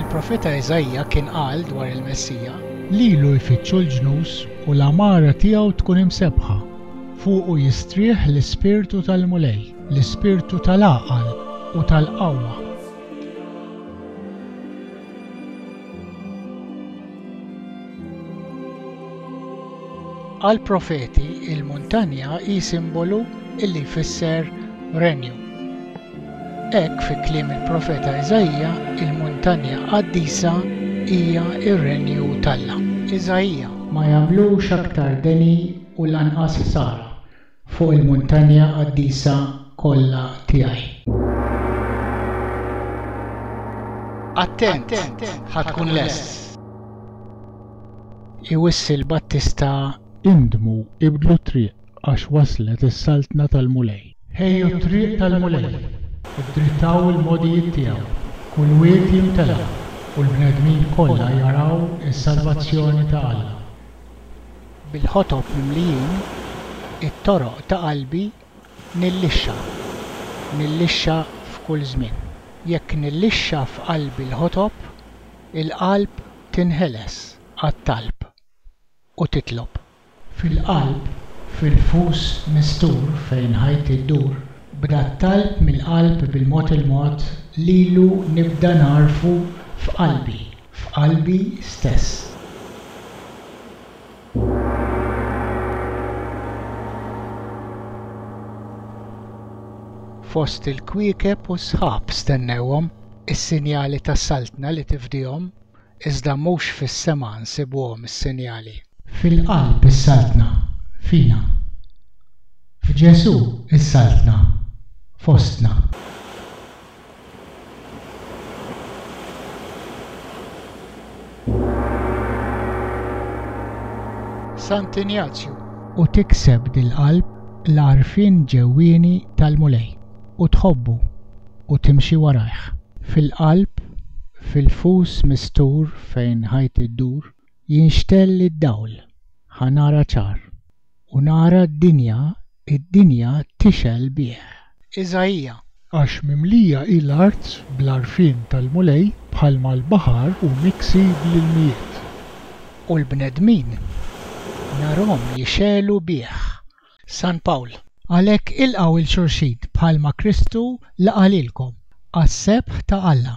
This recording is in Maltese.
Il-profeta Iżaija kien qal dwar il-Messija. Lilu jfittxu l-ġnus u l-għamara tiegħu tkun imsebbħa. Fuqu jistrieħ l-ispirtu tal-Mulej, l-ispirtu tal-għaqal u tal-qawwa. Għall-profeti, il-muntanja hi simbolu li jfisser renju. Hekk fi kliem il-profeta Iżaija, il-muntanja qaddisa hija r-renju t'Alla. Iżaija. Ma jagħmlux aktar deni u lanqas ħsara fuq il-muntanja qaddisa kollha tiegħi. Attent, ħa tkun lest. Iwissi l-battista indmu, ibdlu t-triq. għax waslet is-Saltna tal-Mulej. Ħejju t-triq tal-Mulej, iddrittaw il-mogħdijiet tiegħu, kull wied jimtela, u l-bnedmin kollha jaraw is-salvazzjoni ta' Alla. Bil-ħotob mimlijin, it-toroq ta' qalbi nillixxa, nillixxa f'kull żmien. Jekk nillixxa f'qalbi l-ħotob, il-qalb tinħeles għat-talb. u titlob. Fil-qalb, fil-fus mistur fejn ħajti ddur. B'dat talb mill-qalb bil-mod il-mod lilu nibda ngħarrfu f'qalbi, f'qalbi stess. Fost il-kwiekeb u s-sħab stennewhom, is-sinjali tas-Saltna li tifdihom. iżda mhux fis-sema nsibuhom is-sinjali. Fil-qalb is-Saltna, fina. F'Ġesù is-Saltna, fostna. Sant Injazju. U tikseb dil-qalb l-għarfien ġewwieni tal-Mulej. u tħobbu u timxi warajh. Fil-qalb, fil-fus mistur fejn ħajti ddur, jinxtell id-dawl, ħa nara ċar, u nara d-dinja, id-dinja tixgħel bih. Iżaija. Għax mimlija hi l-art bl-għarfien tal-Mulej, bħalma l-baħar hu miksi bl-ilmijiet. U l-bnedmin narhom jixegħlu bih. San Pawl. Għalhekk ilqgħu 'l xulxin bħalma Kristu laqa' lilkom, għas-sebħ ta' Alla.